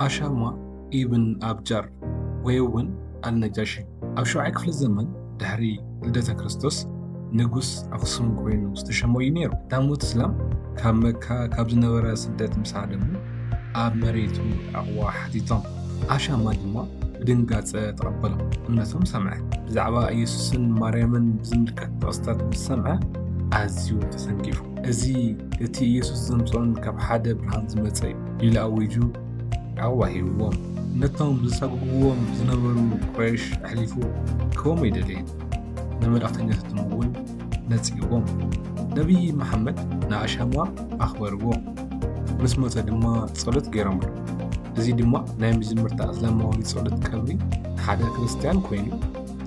ኣሻማ ኢብን ኣብጃር ወይ'ውን ኣልነጃሺ ኣብ ሻብዓይ ክፍለ ዘመን ድሕሪ ልደተ ክርስቶስ ንጉስ ኣኽሱም ኮይኑ ዝተሸሞ እዩ ነይሩ። ዳሞት እስላም ካብ መካ ካብ ዝነበረ ስደት ምስ ሃደሙ ኣብ መሬቱ ዕቕባ ሓቲቶም። ኣሻማ ድማ ብድንጋጸ ተቐበሎ፣ እምነቶም ሰምዐ። ብዛዕባ ኢየሱስን ማርያምን ብዝምልከት ጥቕስታት ምስ ሰምዐ ኣዝዩ ተሰንኪፉ። እዚ እቲ ኢየሱስ ዘምጽኦን ካብ ሓደ ብርሃን ዝመጸ እዩ። ኢሉ ኣዊጁ ዓቕባ ሂብዎም። ነቶም ዘሳጉጉዎም ዝነበሩ ቁረይሽ ኣሕሊፉ ክህቦም ኣይደለየን። ንመልእኽተኛታቶም'ውን ነጺግዎም። ነብዪ መሓመድ ንኣሻማ ኣኽበርዎ። ምስ ሞተ ድማ ጸሎት ገይሮምሉ። እዚ ድማ ናይ መጀመርታ እስላማዊ ጸሎት ቀብሪ ንሓደ ክርስትያን ኰይኑ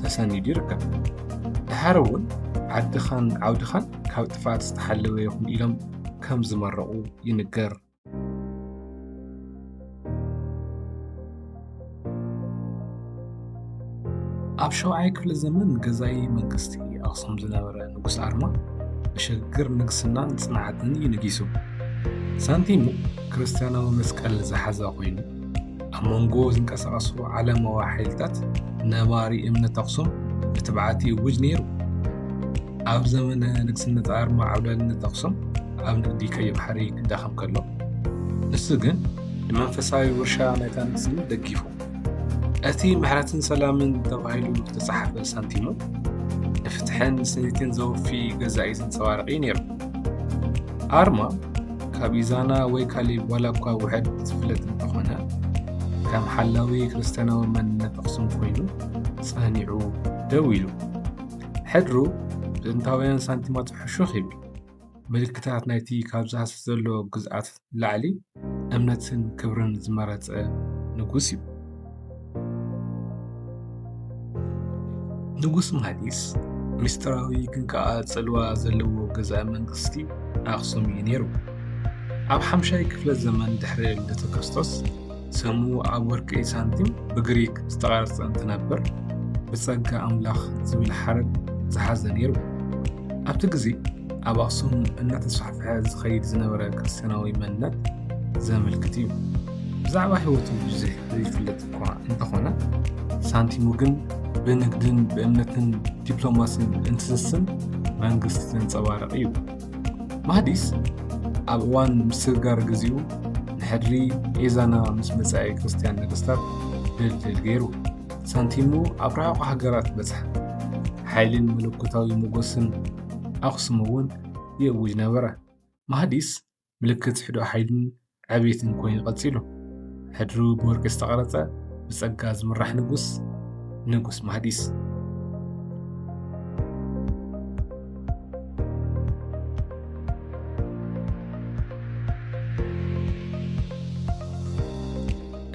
ተሰኒዱ ይርከብ። ደሓር'ውን ዓድኻን ዓውድኻን ካብ ጥፍኣት ዝተሓለወ ይኹን ኢሎም ከም ዝመረቑ ይንገር። ኣብ ሸውዓይ ክፍለ ዘመን ገዛኢ መንግስቲ ኣኽሱም ዝነበረ ንጉስ ኣርማ ብሸግር ንግስናን ፅንዓትን እዩ ነጊሱ። ሳንቲሙ ክርስትያናዊ መስቀል ዝሓዘ ኮይኑ ኣብ መንጎ ዝንቀሳቐሱ ዓለማዊ ሓይልታት ነባሪ እምነት ኣኽሱም ብትብዓት ይእውጅ ነይሩ። ኣብ ዘመነ ንግስነት ኣርማ ዓብላልነት ኣኽሱም ኣብ ንግዲ ቀይሕ ባሕሪ ክዳኸም ከሎ ንሱ ግን ንመንፈሳዊ ውርሻ ናይታ ንግስቲ ደጊፉ እቲ ምሕረትን ሰላምን ተባሂሉ ዝተፃሓፈ ሳንቲሙ ንፍትሕን ስኒትን ዘወፊ ገዛኢ ዘንፀባርቂ ነይሩ። ኣርማ ካብ ኢዛና ወይ ካሊእ ዋላ እኳ ውሕድ ዝፍለጥ እንተኾነ ከም ሓላዊ ክርስትያናዊ መንነት ኣኽሱም ኮይኑ ጸኒዑ ደው ኢሉ ሕድሩ ብጥንታውያን ሳንቲማት ሕሹኽ ይብል ምልክታት ናይቲ ካብ ዝሃስስ ዘሎ ግዝኣት ላዕሊ እምነትን ክብርን ዝመረጸ ንጉስ እዩ። ንጉስ ምሃዲስ ምስጢራዊ ግን ከኣ ጽልዋ ዘለዎ ገዛኢ መንግስቲ ኣክሱም እዩ ነይሩ። ኣብ ሓምሻይ ክፍለ ዘመን ድሕሪ ልደተ ክርስቶስ ሰሙ ኣብ ወርቂ ሳንቲም ብግሪክ ዝተቐርጸ እንትነብር ብጸጋ ኣምላኽ ዝብል ሓረግ ዝሓዘ ነይሩ። ኣብቲ ግዜ ኣብ ኣኽሱም እናተስፋሕፍሐ ዝኸይድ ዝነበረ ክርስትያናዊ መንነት ዘመልክት እዩ። ብዛዕባ ህይወቱ ብዙሕ ዘይፍለጥ እኳ እንተኾነ ሳንቲሙ ግን ብንግድን ብእምነትን ዲፕሎማሲን እንትስስን መንግስቲ ዘንጸባርቕ እዩ። ማህዲስ ኣብ እዋን ምስግጋር ግዜኡ ንሕድሪ ኤዛና ምስ መጻኢ ክርስትያን ነገስታት ድልድል ገይሩ ሳንቲሙ ኣብ ርሑቕ ሃገራት በጽሐ። ሓይልን መለኮታዊ ሞገስን ኣኽሱም እውን ይእውጅ ነበረ። ማህዲስ ምልክት ሕዶ ሓይልን ዕብየት እንኮይ ቐጺሉ። ሕድሩ ብወርቂ ዝተቐረጸ ብጸጋ ዝምራሕ ንጉስ ንጉስ ማህዲስ።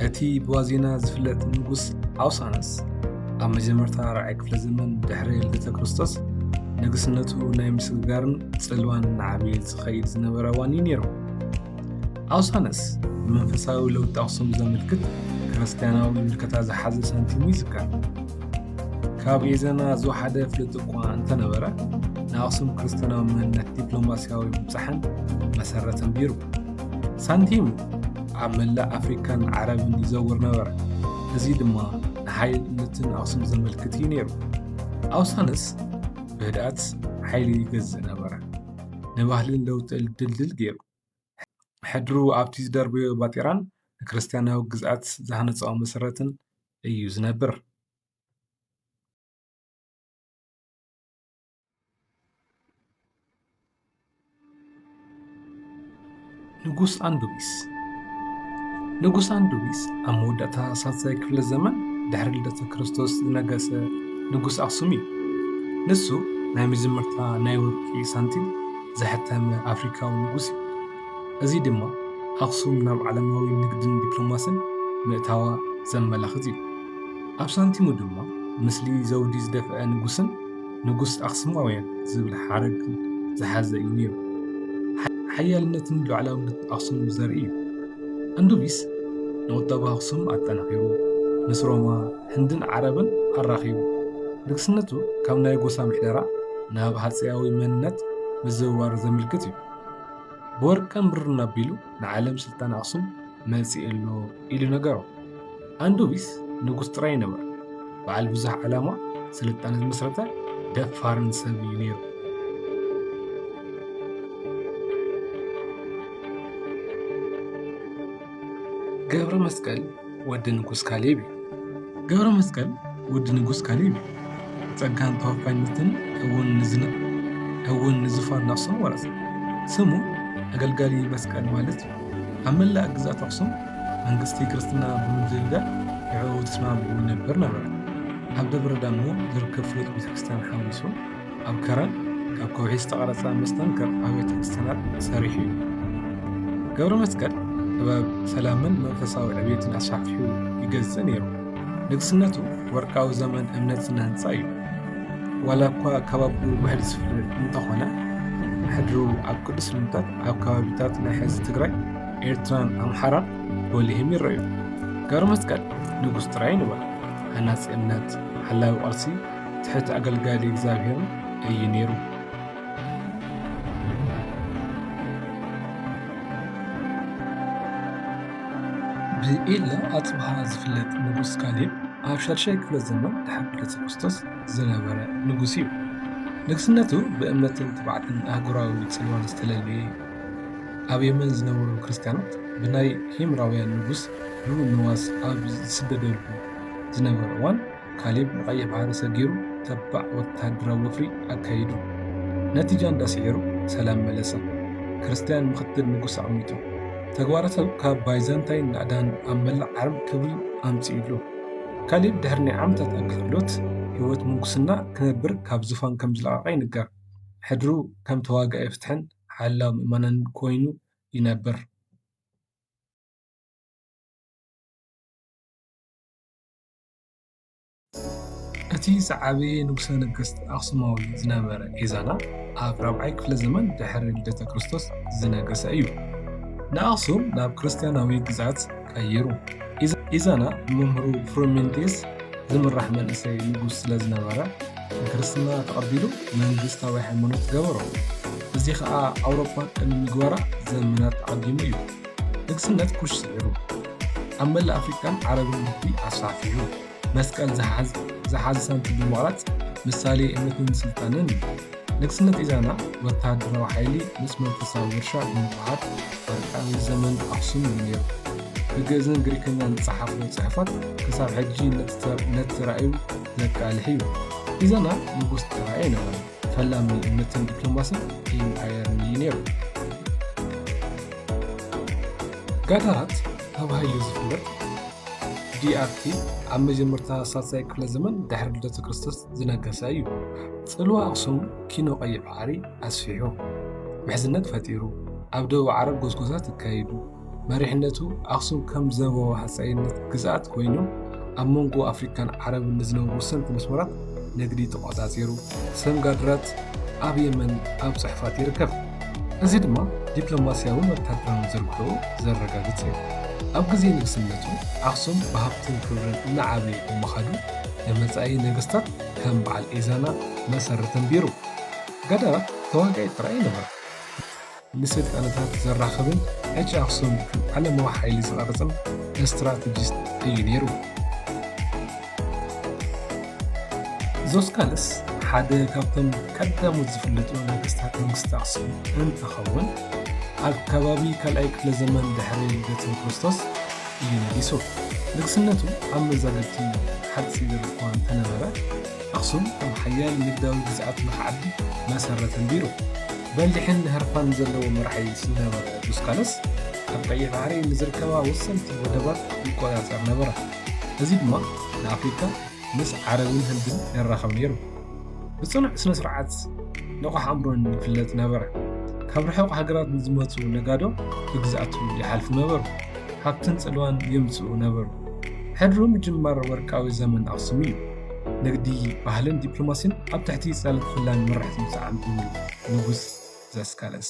እቲ ብዋዜና ዝፍለጥ ንጉስ ኣውሳንስ ኣብ መጀመርታ ራዕይ ክፍለ ዘመን ድሕሪ ልደተ ክርስቶስ ንግስነቱ ናይ ምስግጋርን ጽልዋን እናዓበየ ዝኸይድ ዝነበረ እዋን እዩ ነይሩ ኣውሳነስ ንመንፈሳዊ ለውጢ ኣክሱም ዘመልክት ክርስትያናዊ ምልከታ ዝሓዘ ሳንቲሙ ይዝከር ካብ የዘና ዝወሓደ ፍልጥ እኳ እንተነበረ ንኣክሱም ክርስትያናዊ መንነት ዲፕሎማስያዊ ምብፃሕን መሰረት ኣንቢሩ ሳንቲም ኣብ መላእ ኣፍሪካን ዓረብን ይዘውር ነበረ። እዚ ድማ ንሓይልነትን ኣክሱም ዘመልክት እዩ ነይሩ። ኣውሳንስ ብህድኣት ሓይሊ ይገዝእ ነበረ። ንባህልን ለውጢ ድልድል ገይሩ። ሕድሩ ኣብቲ ዝደርበዮ ባጤራን ንክርስትያናዊ ግዝኣት ዝሃነፆ መሰረትን እዩ ዝነብር። ንጉስ ኣንዱቢስ ንጉስ ኣንዱቢስ ኣብ መወዳእታ ሳልሳይ ክፍለ ዘመን ድሕሪ ልደተ ክርስቶስ ዝነገሰ ንጉስ ኣክሱም እዩ። ንሱ ናይ መጀመርታ ናይ ወርቂ ሳንቲም ዘሐተመ ኣፍሪካዊ ንጉስ እዩ። እዚ ድማ ኣክሱም ናብ ዓለማዊ ንግድን ዲፕሎማስን ምእታዋ ዘመላኽት እዩ። ኣብ ሳንቲሙ ድማ ምስሊ ዘውዲ ዝደፍአ ንጉስን ንጉስ ኣኽሱማውያን ዝብል ሓረግ ዝሓዘ እዩ ነይሩ። ሓያልነትን ሉዓላውነትን ኣኽሱም ዘርኢ እዩ። ኣንዱቢስ ንቑጠባ ኣኽሱም ኣጠናኺሩ፣ ምስ ሮማ፣ ህንድን ዓረብን ኣራኺቡ። ንግስነቱ ካብ ናይ ጎሳ ምሕደራ ናብ ሃጸያዊ መንነት ምዝውዋር ዘመልክት እዩ። ብወርቅን ብርን ኣቢሉ ንዓለም ስልጣነ ኣኽሱም መጺእ ኣሎ ኢሉ ነገሮ። ኣንዱቢስ ንጉስ ጥራይ ይነበር በዓል ብዙሕ ዓላማ ስልጣነ ዝመስረተ ደፋርን ሰብ እዩ ነይሩ። ገብረ መስቀል ወዲ ንጉስ ካሌብ እዩ። ገብረ መስቀል ወዲ ንጉስ ካሌብ እዩ። ጸጋን ተወፋይነትን እውን ንዙፋን ኣኽሱም ወረሰ። ስሙ ኣገልጋሊ መስቀል ማለት እዩ። ኣብ መላእ ግዝኣት ኣኽሱም መንግስቲ ክርስትና ብምድልዳል ንዕኡ ተስማዕሚዑ ይነብር ነበረ። ኣብ ደብረ ዳሞ ዝርከብ ፍሉጥ ቤተክርስትያን ሓዊሱ፣ ኣብ ከረን ካብ ከውሒ ዝተቐረፀ መስተንክር ኣብያተ ክርስቲያናት ሰሪሑ እዩ። ገብረ መስቀል ጥበብ ሰላምን መንፈሳዊ ዕብየትን ኣስፋሕፊሑ ይገዝእ ነይሩ። ንግስነቱ ወርቃዊ ዘመን እምነት ስነ ህንፃ እዩ። ዋላ እኳ ካብ ኣቦኡ ብሕድ ዝፍለ እንተኾነ ሕድሩ ኣብ ቅዱስ ልምታት ኣብ ከባቢታት ናይ ሕዚ ትግራይ፣ ኤርትራን ኣምሓራን ጎሊህም ይረኣዩ። ገብረ መስቀል ንጉስ ጥራይ ኣይነበረን፣ ሃናፂ እምነት፣ ሓላዊ ቅርሲ፣ ትሕት ኣገልጋሊ እግዚኣብሔር እዩ ነይሩ። ብኢለ ኣጽብሃ ዝፍለጥ ንጉስ ካሌብ ኣብ ሻድሻይ ክፍለ ዘመን ድሕሪ ልደተ ክርስቶስ ዝነበረ ንጉስ እዩ። ንግስነቱ ብእምነትን ትብዓትን ኣህጉራዊ ጽልዋን ዝተለለየ እዩ። ኣብ የመን ዝነበሩ ክርስትያናት ብናይ ሂምራውያን ንጉስ ዩ ንዋስ ኣብ ዝስደደሉ ዝነበረ እዋን ካሌብ ንቀይሕ ባሕሪ ሰጊሩ ተባዕ ወተሃደራዊ ወፍሪ ኣካይዱ ነቲ ጃንዳ ስዒሩ ሰላም መለሰ። ክርስትያን ምኽትል ንጉስ ኣዕዊቱ። ተግባራቱ ካብ ባይዛንታይን ናእዳን ኣብ መላእ ዓርም ክብሪ ኣምጺኡሉ። ካሌብ ድሕሪ ናይ ዓመታት ኣገልግሎት ህይወት ምንኩስና ክነብር ካብ ዙፋን ከም ዝለቐቐ ይንገር። ሕድሩ ከም ተዋጋኢ ፍትሕን ሓላው ምእመናንን ኮይኑ ይነብር። እቲ ዝዓበየ ንጉሠ ነገሥት ኣኽሱማዊ ዝነበረ ኤዛና ኣብ ራብዓይ ክፍለ ዘመን ድኅሪ ልደተ ክርስቶስ ዝነገሠ እዩ። ንኣኽሱም ናብ ክርስቲያናዊ ግዝኣት ቀይሩ። ኤዛና ብመምህሩ ፍሩሜንቴስ ዝምራሕ መንእሰይ ንጉሥ ስለ ዝነበረ ንክርስትና ተቐቢሉ መንግሥታዊ ሃይማኖት ገበሮ። እዚ ኸኣ ኣውሮፓ ቅድሚ ምግባራ ዘመናት ኣቐዲሙ እዩ። ንግስነት ኩሽ ስዒሩ፣ ኣብ መላእ ኣፍሪቃን ዓረብን ንግዲ ኣስፋሕፊሑ፣ መስቀል ዝሓዘ ሳንቲም ብምቕራጽ ምሳሌ እምነትን ስልጣነን እዩ። ንግስነት ኢዛና ወተሃደራዊ ሓይሊ ምስ መንፈሳዊ ውርሻ ብምውህሃድ ወርቃዊ ዘመን ኣኽሱም እዩ ነይሩ። ብግእዝን ግሪክኛን ዝጸሓፎ ጽሑፋት ክሳብ ሕጂ ነቲ ራእዩ ዘቃልሕ እዩ። ኢዛና ንጉስ ጥራይ ኣይነበረን። ፈላሚ እምነትን ዲፕሎማስን ኢምፓየርን እዩ ነይሩ። ጋዳራት ተባሂሉ ዝፍለጥ ዲኣርቲ ኣብ መጀመርታ ሳልሳይ ክፍለ ዘመን ድሕሪ ልደተ ክርስቶስ ዝነገሰ እዩ። ጽልዋ ኣኽሱም ኪኖ ቀይሕ ባሕሪ ኣስፊሑ ምሕዝነት ፈጢሩ ኣብ ደቡብ ዓረብ ጎስጎሳት ኣካይዱ። መሪሕነቱ ኣኽሱም ከም ዘቦ ሃፀይነት ግዝኣት ኮይኑ ኣብ መንጎ ኣፍሪካን ዓረብን ንዝነበሩ ወሰንቲ መስመራት ንግዲ ተቆፃፂሩ ሰም ጋድራት ኣብ የመን ኣብ ፅሑፋት ይርከብ እዚ ድማ ዲፕሎማስያውን ወታደራውን ዝርግሑ ዘረጋግፅ እዩ ኣብ ግዜ ንግስነቱ ኣኽሱም ብሃብትን ክብርን እናዓበየ ብምኻዱ ንመፃኢ ነገስታት ከም በዓል ኢዛና መሰረት ኣንቢሩ ገዳራት ተዋጋኢ ጥራይ ነበረ ንስልጣነታት ዘራኽብን ዕጭ ኣኽሱም ከም ዓለማዊ ሓይሊ ዝቐርጽን እስትራተጂስት እዩ ነይሩ። ዞስካልስ ሓደ ካብቶም ቀዳሞት ዝፍለጡ ነገስታት መንግስቲ ኣኽሱም እንትኸውን ኣብ ከባቢ ካልኣይ ክፍለ ዘመን ድሕሪ ልደተ ክርስቶስ እዩ ነጊሱ። ንግስነቱ ኣብ መዛግብቲ ሓጺር እኳ እንተነበረ፣ ኣኽሱም ከም ሓያል ንግዳዊ ግዝኣት ንኽዓቢ መሰረት ኣንቢሩ። በሊሕን ንህርፋን ዘለዎ መራሒ ዝነበረ ዱስካለስ፣ ኣብ ቀይሕ ባሕሪ ንዝርከባ ወሰንቲ ወደባት ይቈጻጸር ነበረ፣ እዚ ድማ ንኣፍሪቃ ምስ ዓረብን ህንድን የራኽብ ነይሩ። ብጽኑዕ ስነ-ስርዓትን ንቑሕ ኣእምሮን ይፍለጥ ነበረ። ካብ ርሑቕ ሃገራት ንዝመጹ ነጋዶ ብግዝኣቱ ይሓልፉ ነበሩ፣ ሃብትን ጽልዋን የምጽኡ ነበሩ። ሕድሩ ምጅማር ወርቃዊ ዘመን ኣኽሱም እዩ። ንግዲ፣ ባህልን ዲፕሎማሲን ኣብ ትሕቲ ጽላል ክፍላን መራሕቲ ምስዓም ዝብል ንጉስ ዛስካለስ።